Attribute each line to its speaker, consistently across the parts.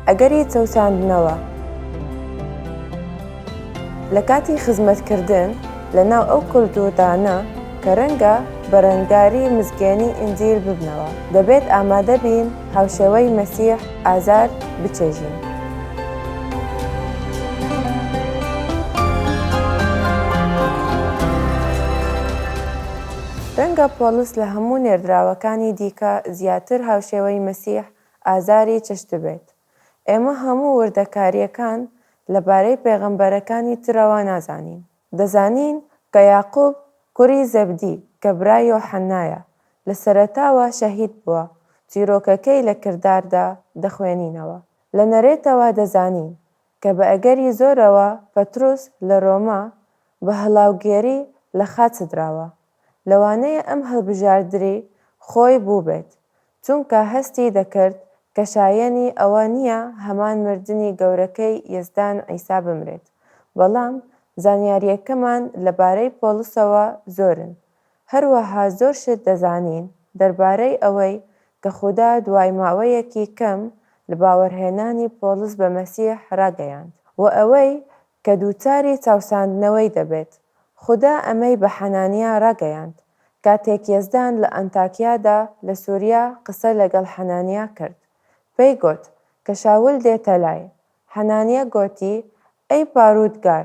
Speaker 1: ئەگەری چەوساندنەوە لە کاتی خزمەتکردن لە ناو ئەو کولتووردانە کە رەنگە بەرەنگاری مزگێنی ئینجیل ببنەوە، دەبێت ئامادە بین هاوشێوەی مەسیح ئازار بچێژین. رەنگە پۆڵس لە هەموو نێردراوەکانی دیکە زیاتر هاوشێوەی مەسیح ئازاری چشت بێت. ئێمە هەموو وردەکارییەکان لەبارەی پێغەمبەرەکانی ترەوە نازانین. دەزانین کە یەعقوب کوڕی زەبدی کە برای یۆحەنایە، لە سەرەتاوە شەهید بووە، چیرۆکەکەی لە کرداردا دەخوێنینەوە. لە نەرێتەوە دەزانین کە بە ئەگەری زۆرەوە پەتروس لە رۆما بە هەڵاوگێری لە خاچ سدراوە، لەوانەیە ئەم هەڵبژاردری خۆی بووبێت، چونکە هەستی دەکرد کە شایەنی ئەوە نییە هەمان مردنی گەورەکەی یەزدان عیسا بمرێت، بەڵام زانیارییەکەمان لەبارەی پۆڵسەوە زۆرن، هەروەها زۆر شت دەزانین دەربارەی ئەوەی کە خودا دوای ماوەیەکی کەم لە باوەڕهێنانی پۆڵس بە مەسیح ڕاگەیاند و ئەوەی کە دووچاری چاوساندنەوەی دەبێت. خودا ئەمەی بە حەنانیا ڕاگەیاند کاتێک یەزدان لە ئەنتاکیادا لە سوریا قسە لەگەڵ حەنانیا کرد، پێی گوت کە شاول دێتە لای. حەنانیا گوتی، ئەی پاروتگار!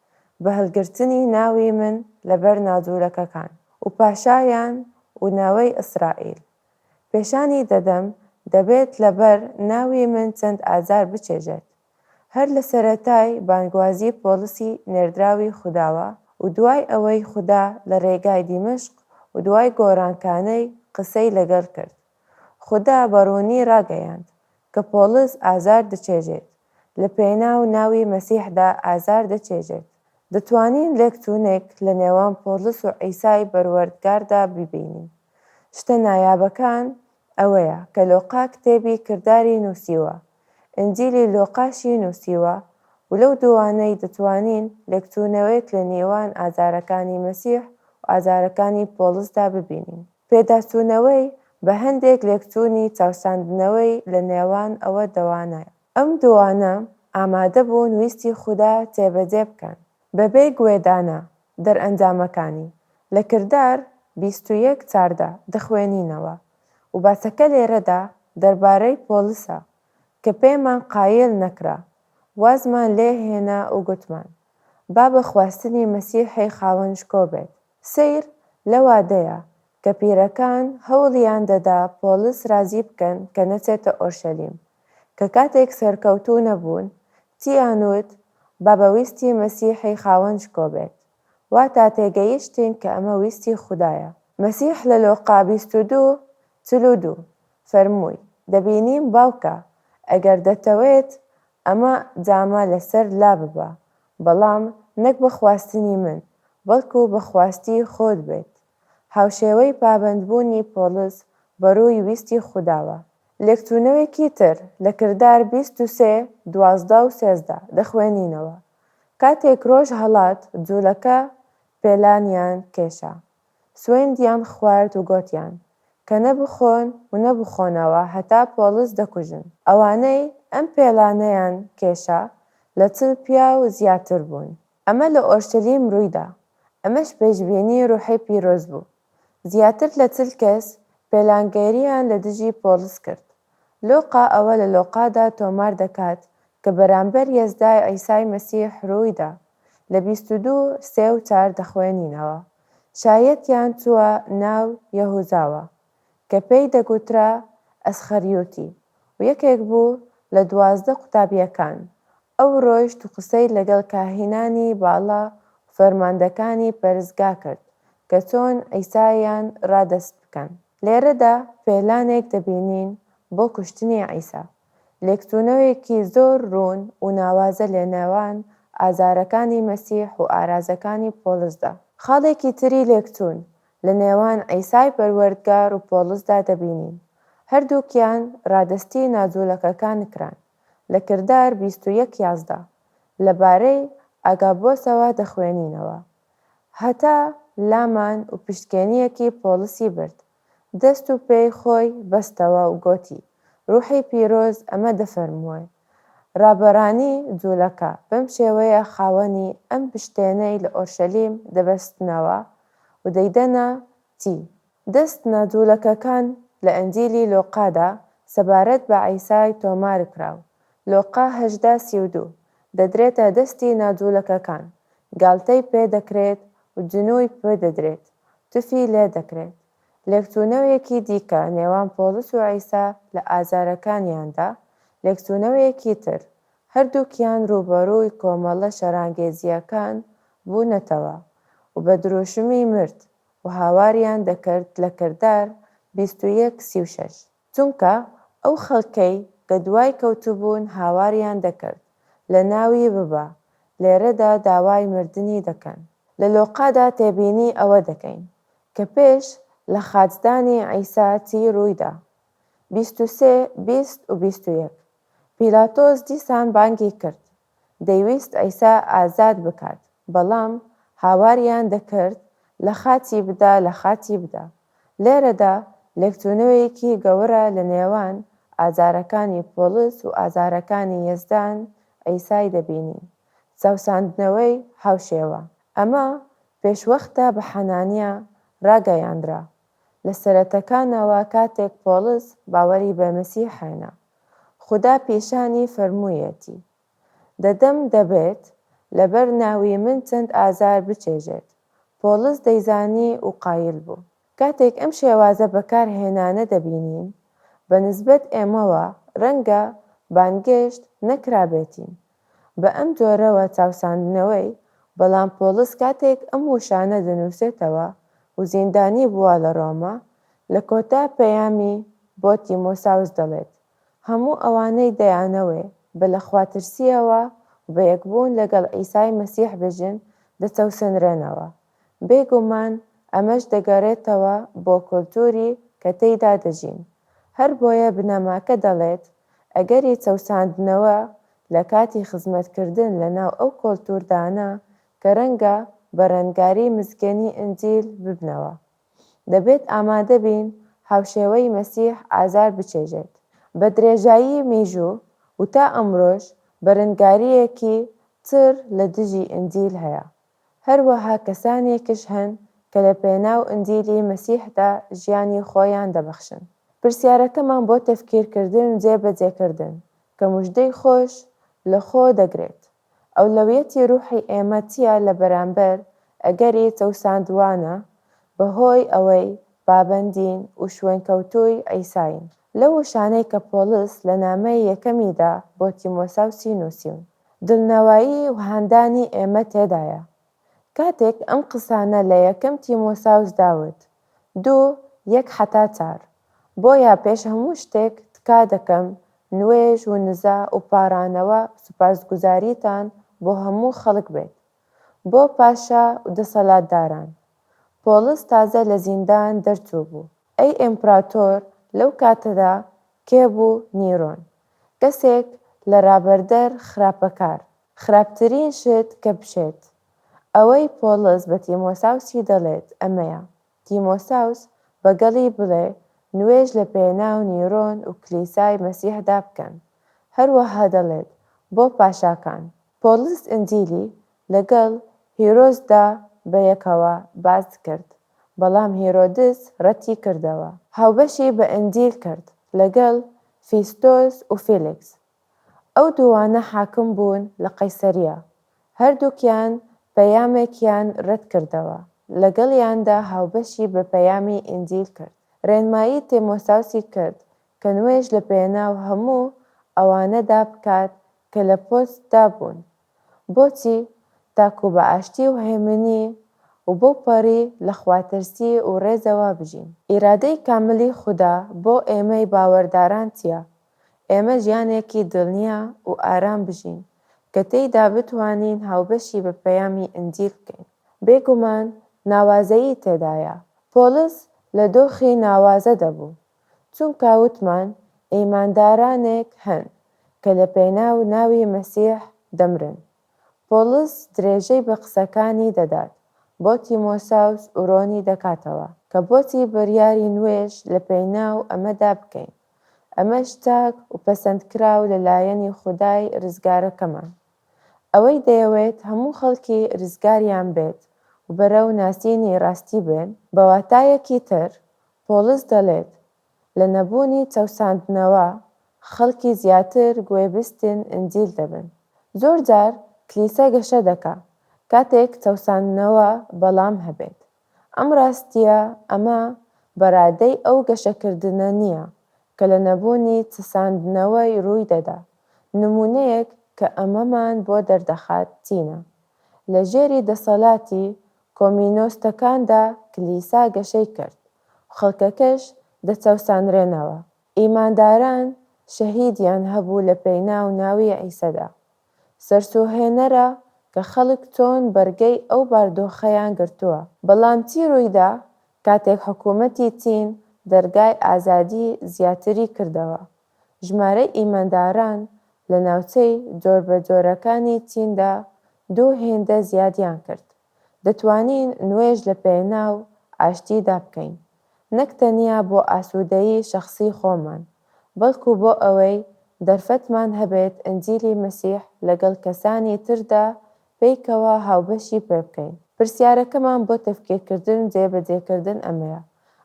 Speaker 1: بە هەلگرتنی ناوی من لەبەر نادورەکەکان و پاشایان و ناوەی ئیسرائیل پێشانی دەدەم دەبێت لەبەر ناوی من چەند ئازار بچێژێت هەر لە سەرەتای بانگوازی پۆلسی نێردراوی خوداوە و دوای ئەوەی خودا لە رێگای دیمەشق و دوای گۆرانکانەی قسەی لەگەل کرد خودا بە ڕوونی ڕاگەیاند کە پۆڵس ئازار دەچێژێت، لە پێناو ناوی مەسیحدا ئازار دەچێژێت. دەتوانین لێکچوونێک لە نێوان پۆڵس و عیسای پەروەردگاردا ببینین. شتە نایابەکان ئەوەیە کە لۆقا کتێبی کرداری نووسیوە ئینجیلی لوقاشی نووسیوە و لەو دووانەی دەتوانین لێکچوونەوەیەک لە نێوان ئازارەکانی مەسیح و ئازارەکانی پۆڵسدا ببینین. پێداچوونەوەی بە هەندێک لێکچوونی چاوساندنەوەی لە نێوان ئەوە دووانەیە. ئەم دووانە ئامادە بوون ویستی خودا جێبەجێ بکەن بەبێ گوێدانە دەرئەنجامەکانی. لە کردار بیست و یەک چاردە دەخوێنینەوە و باسەکە لێرەدا دەربارەی پۆلسە کە پێمان قایل نەکرا، وازمان لێ هێنا و گوتمان، با بە خواستنی مەسیحی خاوەن شکۆ بێت. سەیر لە وادەیە کە پیرەکان هەوڵیان دەدا پۆلس رازی بکەن کە نەچێتە ئۆرشەلیم، کە کاتێک سەرکەوتوو نەبوون، تییان وت، با بە ویستی مەسیحی خاوەن شکۆ بێت. واتا تێگەیشتین کە ئەمە ویستی خودایە. مەسیح لە لوقا بیست و دوو چل و دوو فەرمووی، دەبینیم باوکە، ئەگەر دەتەوێت ئەمە جامە لەسەر لاببە، بەڵام نەک بە خواستنی من، بەڵکو بە خواستی خۆت بێت. هاوشێوەی پابەندبوونی پۆڵس بەڕووی ویستی خوداوە. لێکچوونەوێکی تر لە کردار بیست و سێ دوازدە و سێزدە دەخوێنینەوە، کاتێک ڕۆژ هەڵات، جوولەکە پێلانیان کێشا، سوێندیان خوارد و گۆتیان، کە نە بخۆن و نە بخۆنەوە هەتا پۆڵس دەکوژن. ئەوانەی ئەم پێلانەیان کێشا، لە چل پیاو زیاتر بوون. ئەمە لە ئۆرشەلیم ڕووی دا، ئەمەش پێشبینی ڕوحی پیرۆز بوو. زیاتر لە چل کەس پێلانگێرییان لە دژی پۆڵس کرد. لوقا ئەوە لە لۆقادا تۆمار دەکات کە بەرامبەر یەزدای عیسای مەسیح رووی دا، لە بیست و دوو سێ و چار دەخوێنینەوە، شایەتیان چووە ناو یەهوزاوە، کە پێی دەگوترا ئەسخەریوتی و یەکێک بوو لە دوازدە قوتابییەکان، ئەو ڕۆیشت و قسەی لەگەڵ کاهینانی باڵا و فەرماندەکانی پەرستگا کرد کە چۆن عیسایان ڕادەست بکەن. لێرەدا پێلانێک دەبینین بۆ کوشتنی عیسا، لێکچوونەوێکی زۆر ڕوون و ناوازە لەنێوان ئازارەکانی مەسیح و ئارازەکانی پۆڵسدا. خاڵێکی تری لێکچوون لە نێوان عیسای پەروەردگار و پۆڵسدا دەبینین هەردووکیان ڕادەستی ناجوولەکەکان کران، لە کردار بیست و یەک یازدە لە بارەی ئاگابۆسەوە دەخوێنینەوە، هەتا لامان و پشتکێنییەکی پۆڵسی برد، دەست و پێی خۆی بەستەوە و گۆتی، ڕووحی پیرۆز ئەمە دەفەرموێ، ڕابەرانی جوولەکە بەم شێوەیە خاوەنی ئەم پشتێنەی لە ئۆرشەلیم دەبەستنەوە، و دەیدەنە تی دەست ناجوولەکەکان لە ئەنجیلی لۆقادا سەبارەت بە عیسای تۆمارکراو، لۆقا هەژدە سی و دوو، دەدرێتە دەستی ناجوولەکەکان، گالتەی پێدەکرێت و جنووی پێدەدرێت، تفی لێدەکرێت. لێکچوونەوەیەکی دیکە نێوان پۆڵس و عیسا لە ئازارەکانیاندا، لێکچوونەوەیەکی تر، هەردووکیان رووبەڕووی کۆمەڵە شەرانگێزییەکان بوونەتەوە و بە دروشمی مرد و هاواریان دەکرد لە کردار بیست و یەک سی و شەش، چونکە ئەو خەڵکەی کە دوای کەوتبوون هاواریان دەکرد لە ناوی ببە، لێرەدا داوای مردنی دەکەن. لە لۆقادا تێبینی ئەوە دەکەین کە پێش لە خاچدانی عیسا چی روویدا، بیست و سێ بیست و بیست و یەک. پیلاتۆس دیسان بانگی کرد، دەیویست عیسا ئازاد بکات، بەڵام هاواریان دەکرد، لە خاچی بدە، لە خاچی بدە. لێرەدا لێکچوونەوەیەکی گەورە لە نێوان ئازارەکانی پۆڵس و ئازارەکانی یەزدان عیسای دەبینین، چەوساندنەوەی هاوشێوە. ئەمە پێشوەختە بە حەنانیا ڕاگەیاندرا. لە سەرەتەکانەوە کاتێک پۆڵس باوەری بە مەسیح هێنا، خودا پیشانی فەرموویەتی، دەدەم دەبێت لەبەر ناوی من چەند ئازار بچێژێت، پۆڵس دەیزانی و قایل بوو. کاتێک ئەم شێوازە بەکارهێنانە دەبینین، بە نسبەت ئێمەوە ڕەنگە بانگێشت نەکرابێتین، بە ئەم جۆرەوە چاوساندنەوەی، بەڵام پۆڵس کاتێک ئەم وشانە دەنووسێتەوە و زیندانی بووە لە ڕۆما، لە کۆتا پەیامی بۆ تیمۆساوس دەڵێت، هەموو ئەوانەی دەیانەوێ بە لە خواترسییەوە و بە یەکبوون لەگەڵ عیسای مەسیح بژین دەچەوسێنرێنەوە. بێ گومان ئەمەش دەگەڕێتەوە بۆ کولتووری کە تێیدا دەژین، هەر بۆیە بنەماکە دەڵێت ئەگەری چەوساندنەوە لە کاتی خزمەتکردن لە ناو ئەو کۆلتووردانە کە رەنگە بە رەنگاری مزگێنی ئنجیل ببنەوە، دەبێت ئامادە بین هاوشێوەی مەسیح ئازار بچێژێت. بە درێژایی میژوو و تا ئەمرۆش بەرنگارییەکی چڕ لە دژی ئنجیل هەیە، هەروەها کەسانێکش هەن کە لە پێناو ئنجیلی مەسیحدا ژیانی خۆیان دەبەخشن. پرسیارەکەمان بۆ تەفکیرکردن و جێبەجێکردن کە مژدەی خۆش لە خۆ دەگرێت، ئەولەویەتی روحی ئێمە چییە لە بەرامبەر ئەگەری چەوساندوانە بەهۆی ئەوەی پابەندین و شوێنکەوتووی عیساین؟ لەو وشانەی کە پۆڵس لە نامەی یەکەمیدا بۆ تیمۆساوسی نووسیون، دڵنەوایی و هاندانی ئێمە تێدایە. کاتێک ئەم قسانە لە یەکەم تیمۆساوسدا وت، دوو، یەک حەتا چار، بۆیە پێش هەموو شتێک تکا دەکەم نوێژ ونزا وپاڕانەوە سوپاسگوزاریتان بۆ هەموو خەڵک بێت، بۆ پاشا ودەسەلاتداران. پۆڵس تازە لە زیندان دەرچووبوو. ئەی ئیمپراتۆر لەو کاتەدا کێ بوو؟ نیرۆن. کەسێک لە رابەردەر خراپەکار. خراپترین شت کە بشێت. ئەوەی پۆڵس بە تیمۆساوسی دەڵێت ئەمەیە، تیمۆساوس بەگەڵی بڵێ نوێژ لە پێناو نیرۆن و کلیسای مەسیحدا بکەن. هەروەها دەڵێت بۆ پاشاکان. پۆڵس ئنجیلی لەگەڵ هیرۆدسدا بەیەکەوە باس کرد. بەڵام هیرۆدس رەتی کردەوە. هاوبەشی بە ئەندیل کرد لەگەڵ فیستۆس و فیلیکس. ئەو دووانە حاکم بوون لە قەیسەریە. هەردووکیان پەیامێکیان رەت کردەوە. لەگەڵیاندا هاوبەشی بە پەیامی ئەندیل کرد. رێنمایی تێمۆساوسی کرد کە نوێژ لە پێناو هەموو ئەوانەدا بکات کە لە پۆستدا بوون. بۆچی؟ تاکو بە ئاشتی و هێمنی و بەو پەڕی لە خواترسی و ڕێزەوە بژین. ئیرادەی کاملی خودا بۆ ئێمەی باوەرداران چییە؟ ئێمە ژیانێکی دڵنیا و ئارام بژین، کە تێیدا بتوانین هاوبەشی بە پەیامی ئنجیل بکەین. بێگومان ناوازەیی تێدایە. پۆڵس لە دۆخی ناوازەدا بوو، چونکا وتمان ئیماندارانێک هەن کە لە پێناو ناوی مەسیح دەمرن. پۆڵس درێژەی بە قسەکانی دەدات بۆ تیمۆساوس ورۆنی دەکاتەوە کە بۆچی بریاری نوێژ لە پێناو ئەمەدا بکەین، ئەمەش چاک وپەسەندکراو لە لایەنی خودای رزگارەکەمان. ئەوەی دەیەوێت هەموو خەڵکی رزگاریان بێت وبەرەو ناسینی راستی بێن، بە واتایەکی تر پۆڵس دەڵێت، لە نەبوونی چەوساندنەوە، خەڵکی زیاتر گوێبیستن ئنجیل دەبن. زۆرجار کلیسا گەشە دەکا، کاتێک چەوساندنەوە بەڵام هەبێت. ئەم ڕاستییە ئەمە بە ڕادەی ئەو گەشەکردنە نییە کە لە نەبوونی چساندنەوەی ڕووی دەدا. نموونەیەک کە ئەمەمان بۆ دەردەخات چینە؟ لە ژێری دەسەڵاتی کۆمینۆستەکاندا کلیسا گەشەی کرد و خەڵکەکەش دەچەوسانرێنەوە. ئیمانداران شەهیدیان هەبوو لە پێناو ناوی عیسەدا. سەرسووڕهێنەرە کە خەڵک چۆن بەرگەی ئەو باردۆخەیان گرتووە. بەڵام چی ڕوویدا کاتێک حکوومەتی چین دەرگای ئازادی زیاتری کردەوە؟ ژمارەی ئیمانداران لە ناوچەی جۆربەجۆرەکانی چیندا دوو هێندە زیادیان کرد. دەتوانین نوێژ لە پێناو ئاشتیدا بکەین، نەک تەنیا بۆ ئاسوودەیی شەخسی خۆمان، بەڵکو بۆ ئەوەی دەرفەتمان هەبێت ئنجیلی مەسیح لەگەڵ کەسانی تردا پێکەوە هاوبەشی پێ بکەین. پرسیارەکەمان بۆ تەفکیرکردن و جێبەجێکردن ئەمەیە،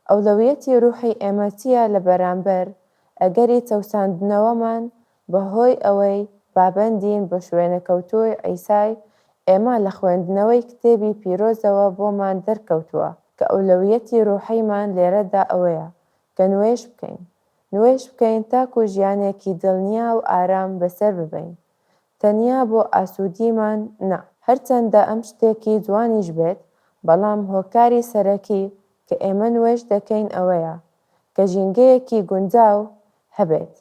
Speaker 1: ئەولەویەتی روحی ئێمە چییە لە بەرامبەر ئەگەری چەوساندنەوەمان بە هۆی ئەوەی پابەندین بە شوێنەکەوتووی عیسای ئێمە لە خوێندنەوەی کتێبی پیرۆزەوە بۆمان دەرکەوتووە کە ئەولەویەتی روحیمان لێرەدا ئەوەیە کە نوێژ بکەین نوێژ بکەین تاکو ژیانێکی دڵنیا و ئارام بەسەر ببەین تەنیا بۆ ئاسوودیمان نا، هەرچەندە ئەم شتێکی جوانیش بێت، بەڵام هۆکاری سەرەکی کە ئێمە نوێژ دەکەین ئەوەیە کە ژینگەیەکی گونجاو هەبێت،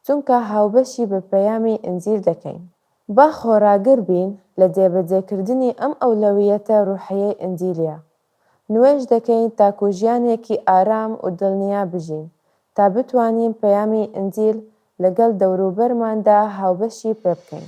Speaker 1: چونکە هاوبەشی بە پەیامی ئینجیل دەکەین. با خۆڕاگر بین لە جێبەجێکردنی ئەم ئەولەوییەتە ڕوحییەی ئینجیلییە، نوێژ دەکەین تاکو ژیانێکی ئارام و دڵنیا بژین، تا بتوانین پەیامی ئینجیل لەگەڵ دەوروبەرماندا هاوبەشی پێبکەین.